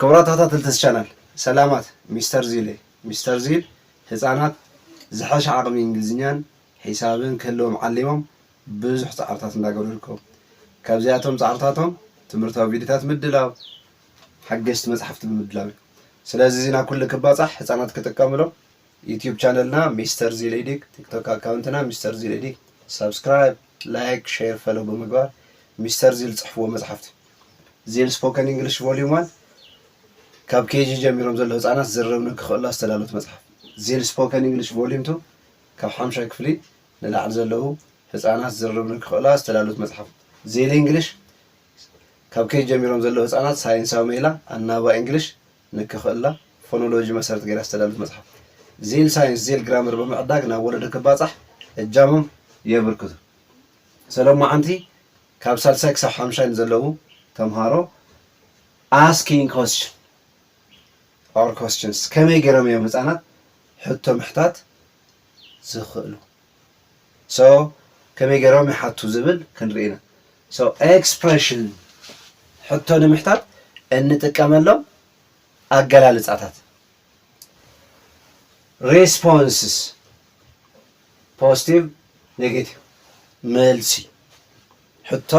ክቡራት ተኸታተልቲ እዚ ቻናል ሰላማት ሚስተር ዚል እየ ሚስተር ዚል ህፃናት ዝሐሸ ዓቅሚ እንግሊዝኛን ሒሳብን ክህልዎም ዓሊሞም ብዙሕ ፃዕርታት እንዳገበሩ ይርከቡ ካብዚኣቶም ፃዕርታቶም ትምህርታዊ ቪድዮታት ምድላው ሓገሽቲ መፅሓፍቲ ብምድላው እዩ ስለዚ እዚ ናብ ኩሉ ክባፃሕ ህፃናት ክጥቀምሎም ዩትዩብ ቻነልና ሚስተር ዚል ኤዲክ ቲክቶክ ኣካውንትና ሚስተር ዚል ኤዲክ ሳብስክራይብ ላይክ ሼር ፈለው ብምግባር ሚስተር ዚል ፅሕፍዎ መፅሓፍቲ ዚል ስፖከን እንግሊሽ ቮልዩም ዋን ካብ ኬጂ ጀሚሮም ዘለዉ ህጻናት ዝርርብ ንክኽእሉላ ዝተዳለወት መጽሓፍ። ዚል ስፖከን እንግሊሽ ቮልዩም ቱ ካብ ሓምሻይ ክፍሊ ንላዕሊ ዘለዉ ህጻናት ዝርርብ ንክኽእሉላ ዝተዳለወት መጽሓፍ። ዚል እንግሊሽ ካብ ኬጂ ጀሚሮም ዘለዉ ህጻናት ሳይንሳዊ መይላ ኣናባባ እንግሊሽ ንክኽእሉላ ፎኖሎጂ መሰረት ገይራ ዝተዳለወት መጽሓፍ። ዚል ሳይንስ ዚል ግራመር ብምዕዳግ ናብ ወለዶ ክባጻሕ እጃሞም የብርክቱ። ሰለሞዓንቲ ካብ ሳልሳይ ክሳብ ሓምሻይ ንዘለዉ ተምሃሮ Asking Question or Questions ከመይ ጌሮም እዮም ህጻናት ሕቶ ምሕታት ዝኽእሉ? So ከመይ ጌሮም ይሓቱ ዝብል ክንርኢ ኢና። So Expression ሕቶ ንምሕታት እንጥቀመሎም ኣገላልጻታት። ሬስፖንስስ ፖስቲቭ ኔጌቲቭ መልሲ ሕቶ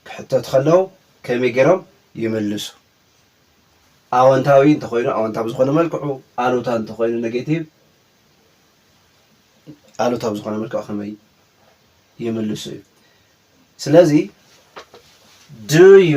ክሕተቱ ከለዉ ከመይ ገይሮም ይምልሱ ኣወንታዊ እንተኮይኑ ኣወንታ ብዝኾነ መልክዑ ኣሉታ እንተኮይኑ ኔጌቲቭ ኣሉታ ብዝኾነ መልክዑ ከመይ ይምልሱ እዩ ስለዚ ዩ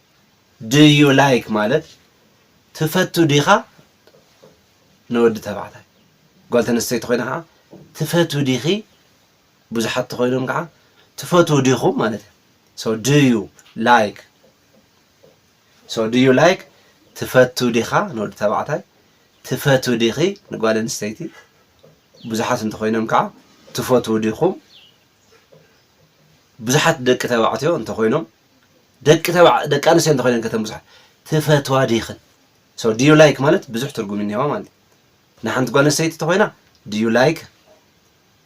ድ ዩ ላይክ ማለት ትፈቱ ዲኻ ንወዲ ተባዕታይ ጓል ተነስተይቲ ኮይና ከዓ ትፈትዊ ዲኺ ብዙሓት ተኮይኖም ከዓ ትፈትዉ ዲኹም ማለት እዩ ሶ ድ ዩ ላይክ ሶ ድ ዩ ላይክ ትፈቱ ዲኻ ንወዲ ተባዕታይ ትፈትዊ ዲኺ ንጓል ኣንስተይቲ ብዙሓት እንተኮይኖም ከዓ ትፈትዉ ዲኹም ብዙሓት ደቂ ተባዕትዮ እንተኮይኖም ደቂ ተባዕ ደቂ ኣንስትዮ እንተኾይነን ከ እተን ብዙሓት ትፈትዋ ዲኽን so do you like ማለት ብዙሕ ትርጉም እኒሀዋ ማለት እዩ ንሓንቲ ጓል ኣንስተይቲ ተኾይና do you like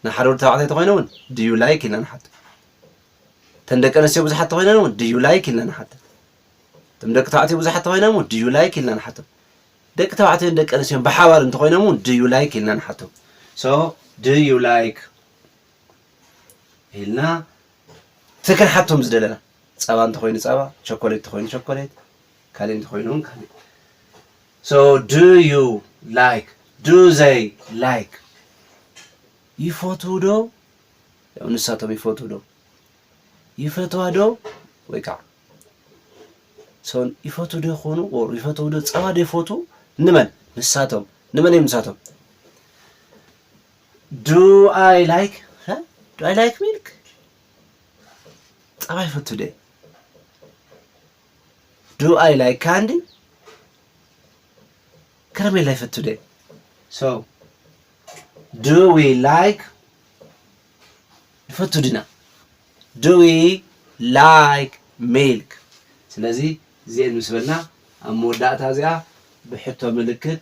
ንሓደ ወዲ ተባዕታይ ተኾይነ እውን do you like ኢልና ንሓቶ እተን ደቂ ኣንስትዮ ብዙሓት ተኾይነን እውን do you like ኢልና ንሓቶ እቶም ደቂ ተባዕትዮ ብዙሓት ተኾይኖም እውን do you like ኢልና ንሓቶ ደቂ ተባዕትዮን ደቂ ኣንስትዮን ብሓባር እንተኾይኖም እውን do you like ኢልና ንሓቶ so do you like ኢልና እቲ ክንሓቶም ዝደለና ጸባ እንተኾይኑ ጸባ ቸኮሌት እንተኾይኑ ቸኮሌት ካልእ እንተኾይኑ እውን ካልእ so do you like do they like ይፈትዉ ዶ ያው ንሳቶም ይፈትዉ ዶ ይፈትዋ ዶ ወይ ከዓ ሰው ይፈትዉ ዶ ይኾኑ ኦር ይፈትዉ ዶ ጸባ ዶ ይፈትዉ ንመን ንሳቶም ንመን እዮም ንሳቶም ዱ ኣይ ላይክ ሀ ዱ ኣይ ላይክ ሚልክ ጸባ ይፈቱ ደ ዱ ኣይ ላይክ ካንዲ ከረሜላ ይፈቱ ደ ሶ ዱ ዊ ላይክ ይፈቱ ድና ዱ ዊ ላይክ ሚልክ ስለዚ እዚኤን ምስ በልና ኣብ መወዳእታ እዚኣ ብሕቶ ምልክት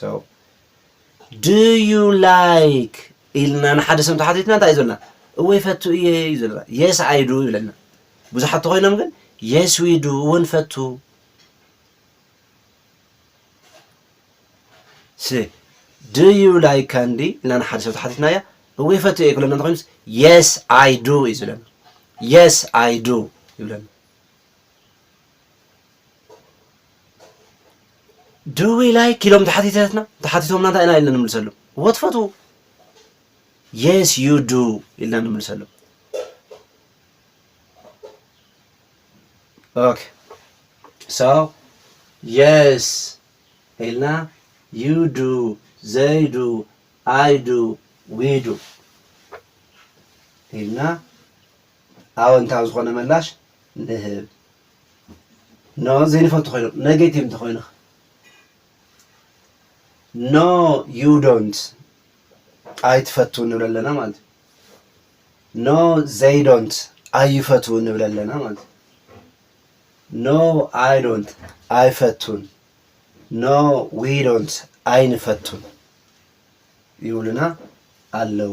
so do you like ኢልና ንሓደ ሰብ ተሓቲትና እንታይ እዩ ዝብለና እወ ይፈቱ እየ እዩ ዝብለና yes i do ይብለና ብዙሓት ተኮይኖም ግን yes we do እወ ንፈቱ ሲ do you like candy ኢልና ንሓደ ሰብ ተሓቲትናያ እወ ይፈቱ እየ ክብለና እንተኮይኑስ yes i do እዩ ዝብለና yes i do ይብለና ድዊ ላይክ ኢሎም ተሓቲተትና ተሓቲቶምና እንታይ ኢና ኢልና ንምልሰሎም ወት ፈትዉ የስ ዩ ዱ ኢልና ንምልሰሎም ኦኬ ሶ የስ ኢልና ዩ ዱ ዘይ ዱ ኣይ ዱ ዊ ዱ ኢልና ኣወንታዊ ዝኾነ መላሽ ንህብ። No ዘይንፈቱ ኮይኖም ነጌቲቭ እንተኾይኑ ኸ? No you don't ኣይትፈቱን ንብል ኣለና ማለት እዩ። No they don't ኣይፈትዉን ንብል ኣለና ማለት እዩ። No I don't ኣይፈቱን። No we don't ኣይንፈቱን ይብሉና ኣለዉ።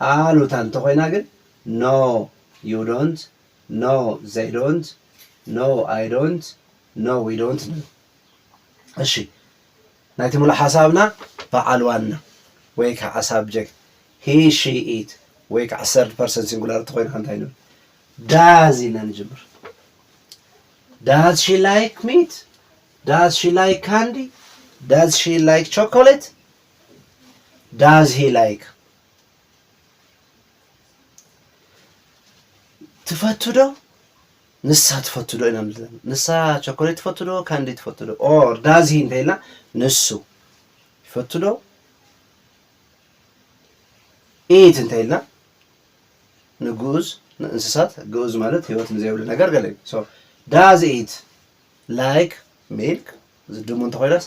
ኣሉታ እንተኾይና ግን No you don't No they don't No I don't No we don't ንብል። እሺ ናይቲ ምሉእ ሓሳብና በዓል ዋና ወይ ከዓ ሳብጀክት He she it ወይ ከዓ ሰርድ ፐርሰን ሲንጉላር እንተኾይና እንታይ ንብል? ዳዝ ኢልና ንጅምር። ዳዝ ሺ ላይክ ሚት ዳዝ ሺ ላይክ ካንዲ ዳዝ ሺ ላይክ ቾኮሌት ዳዝ ሂ ላይክ ትፈቱ ዶ ንሳ ትፈቱ ዶ ኢና ንብል ንሳ ቸኮሌት ትፈቱ ዶ ካንዲ ትፈቱ ዶ ኦር ዳዝ ሂ እንተኢልና ንሱ ይፈቱ ዶ ኢት እንተኢልና ንግኡዝ ንእንስሳት ግኡዝ ማለት ህይወት ንዘይብሉ ነገር ገለ እዩ ዳዝ ኢት ላይክ ሚልክ ዝድሙ እንተኮይናስ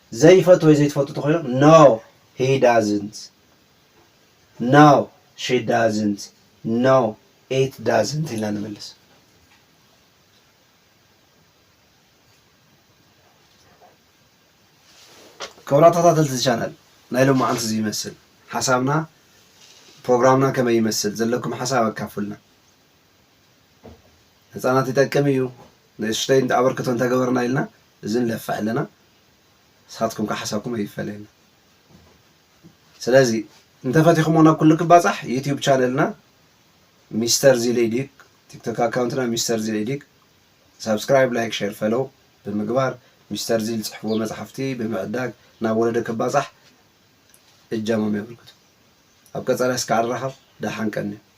ዘይፈቱ ወይ ዘይትፈቱ ተኾይኑ No he doesn't No she doesn't No it doesn't ኢልና ንመልስ። ክቡራት ተኸታተልቲ እዚ ቻናል ናይ ሎማዓንቲ እዚ ይመስል ሓሳብና ፕሮግራምና ከመይ ይመስል ዘለኩም ሓሳብ ኣካፉልና። ህፃናት ይጠቅም እዩ ንእሽተይ ኣበርክቶ እንተገበርና ኢልና እዚ ንለፍዕ ኣለና ንስኻትኩም ከኣ ሓሳብኩም ኣይፈለየና ስለዚ እንተፈቲኹሞ ናብ ኩሉ ክባጻሕ ዩቲዩብ ቻነልና ሚስተር ዚሌዲግ ቲክቶክ ኣካውንትና ሚስተር ዚሌዲግ ሳብስክራይብ ላይክ ሼር ፈለው ብምግባር ሚስተር ዚል ጽሕፍዎ መጽሓፍቲ ብምዕዳግ ናብ ወለደ ክባጻሕ እጃሞም የበርክቱ ኣብ ቀጻሊ ስካዕ ንራኸብ ደሓን ቀንዩ